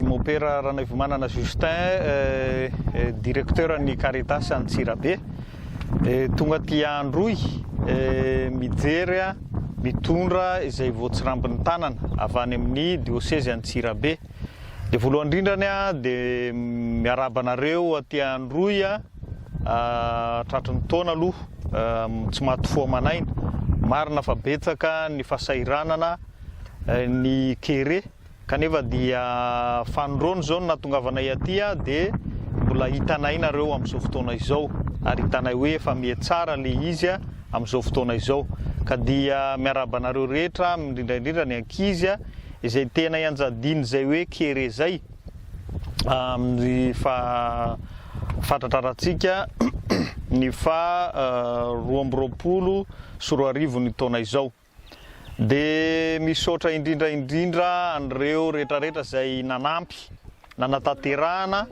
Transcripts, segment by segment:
Mopera Ranaivomanana Justin, Directeur ny Caritas Antsirabe, tonga aty Androy mijery mitondra izay voatsirambin'ny tanana avy any amin'ny diosezy Antsirabe. Dia voalohany indrindra ny dia miarahaba anareo aty Androy tratry ny taona aloha tsy maty fo aman'aina. Marina fa betsaka ny fahasahiranana, ny kere. Kanefa dia fanindroany izao no nahatongavanay aty dia mbola hitanay nareo amin'izao fotoana izao ary hitanay hoe efa mihatsara le izy amin'izao fotoana izao ka dia miarahaba anareo rehetra indrindra indrindra ny ankizy izay tena ianjadiany izay hoe kere zay amin'ny fa fatratrarantsika ny fa roa amby roapolo sy roa arivo ny taona izao. Dia misaotra indrindra indrindra an'ireo rehetrarehetra izay nanampy nanatanterahana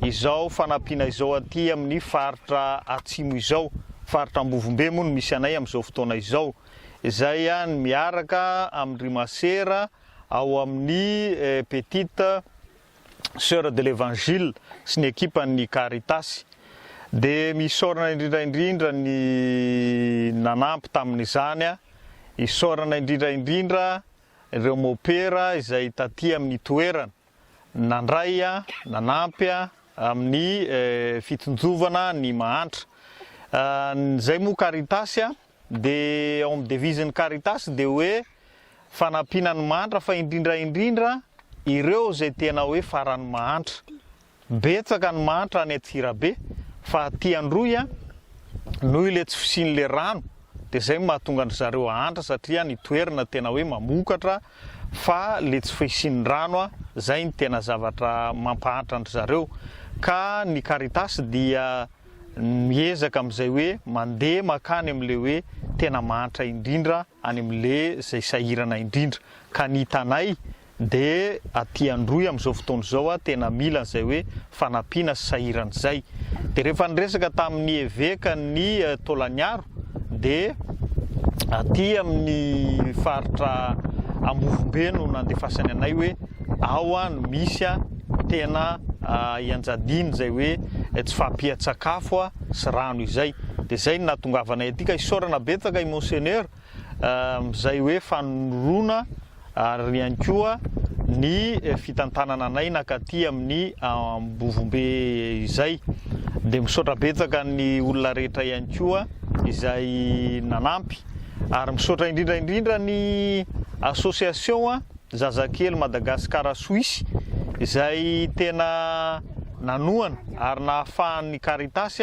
izao fanampiana izao aty amin'ny faritra Atsimo izao, faritra Ambovombe moa no misy anay amin'izao fotoana izao, izay miaraka amin-dry masera ao amin'ny petite Soeurs de l'Evangile sy ny ekipan'ny Caritas. Dia misaorana indrindra indrindra ny nanampy tamin'izany. Isaorana indrindra indrindra ireo mopera izay taty amin'ny toerana nandray, nanampy amin'ny fitonjovana ny mahantra. Ny izay moa Caritas Dia ao amin'ny devise ny Caritas dia hoe fanampiana ny mahantra fa indrindra indrindra ireo izay tena hoe faran'ny mahantra. Betsaka ny mahantra any Antsirabe fa aty Androy a, noho ilay tsy fisian'ilay rano dia izay no mahatonga an-dry zareo hahantra satria ny toerana tena hoe mamokatra fa ilay tsy fisian'ny rano a, izay no tena zavatra mampahantra an-dry zareo. Ka ny Caritas dia. miezaka amin'izay hoe mandeha mankany amin'ilay hoe tena mahantra indrindra any amin'ilay izay sahirana indrindra ka ny hitanay dia aty Androy amin'izao fotoana izao a tena mila an'izay hoe fanampiana sy sahirana izay dia rehefa niresaka tamin'ny eveka ny Taolaniaro dia aty amin'ny faritra Ambovombe no nandefasany anay hoe ao no misy a tena ianjadiany izay hoe tsy fahampian-tsakafo a sy rano izay dia izay no nahatongavanay aty ka isaorana betsaka i Monseigneur izay hoe fanorona ary ihany koa ny fitantanana anay nakaty amin'ny Ambovombe izay. Dia misaotra betsaka ny olona rehetra ihany koa izay nanampy ary misaotra indrindra indrindra ny association Zazakely Madagascar Suisse izay tena nanohana ary nahafahan'ny Caritas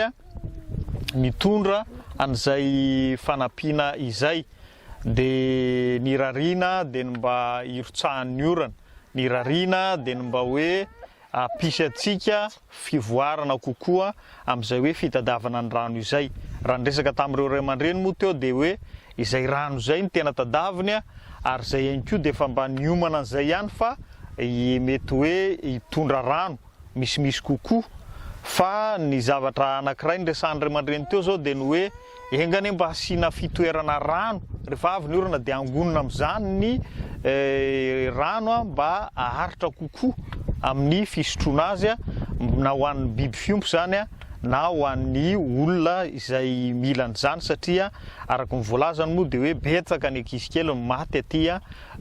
mitondra an'izay fanampiana izay. Dia ny rariana dia ny mba hirotsahan'ny orana. Ny rariana dia ny mba hoe hampisy antsika fivoarana kokoa amin'izay hoe fitadiavana ny rano izay. Raha niresaka tamin'ireo ray aman-dreny moa teo dia hoe izay rano izay no tena tadaviny ary izay ihany koa dia efa mba niomana an'izay ihany fa mety hoe hitondra rano. misimisy kokoa fa ny zavatra anankiray niresahan'ny ray aman-dreny teo izao dia ny hoe enga anie mba asiana fitoerana rano rehefa avy ny orana dia hangonina amin'izany ny rano mba haharitra kokoa amin'ny fisotroana azy na ho an'ny biby fiompy izany na ho an'ny olona izay mila an'izany satria araka ny voalazany moa dia hoe betsaka ny ankizy kely no maty aty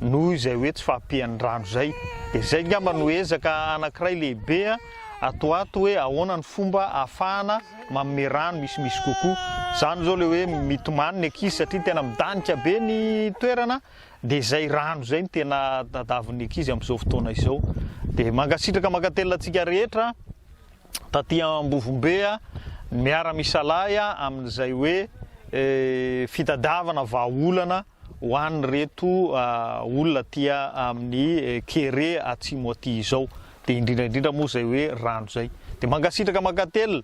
Noho izay hoe tsy fahampian'ny rano izay, dia izay angamba no ezaka anankiray lehibe ato ato hoe ahoana ny fomba ahafahana manome rano misimisy kokoa. Izany izao ilay hoe mitomany ny ankizy satria tena midanika be ny toerana, dia izay rano izay no tena tadavin'ny ankizy amin'izao fotoana izao. Dia mankasitraka mankatelina antsika rehetra taty Ambovombe miara-misalahy amin'izay hoe fitadiavana vahaolana ho an'ireto olona aty amin'ny kere atsimo aty izao, dia indrindra indrindra moa izay hoe rano izay. Dia mankasitraka mankatelina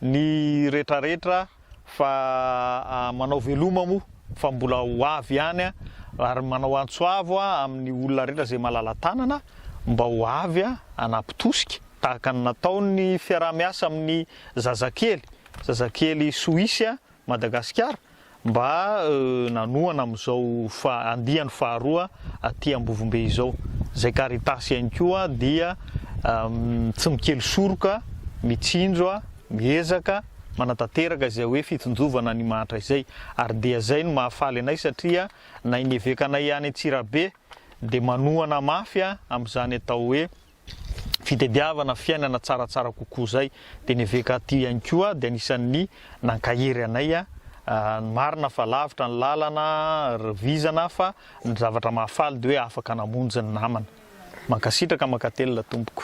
ny retraretra fa manao veloma moa fa mbola ho avy ihany ary manao antso avo amin'ny olona rehetra izay malala-tanana mba ho avy hanapitosika tahaka ny nataon'ny fiaraha-miasa amin'ny zazakely, zazakely soisy. Madagasikara mba nanohana amin'izao andiany faharoa aty Ambovombe izao. Izay Caritas ihany koa dia tsy mikely soroka, mitsinjo, miezaka, manatanteraka izay hoe fitsinjovana an'i Imahatra izay. Ary dia izay no mahafaly anay satria na i Evekanay any Antsirabe dia manohana mafy amin'izany atao hoe fitediavana fiainana tsaratsara kokoa izay. Dia ny eveka aty ihany koa dia anisan'ny nankahery anay. Marina fa lavitra ny lalana ry vizana fa ny zavatra mahafaly dia hoe afaka namonjy ny namana. Mankasitraka, mankatelina tompoko.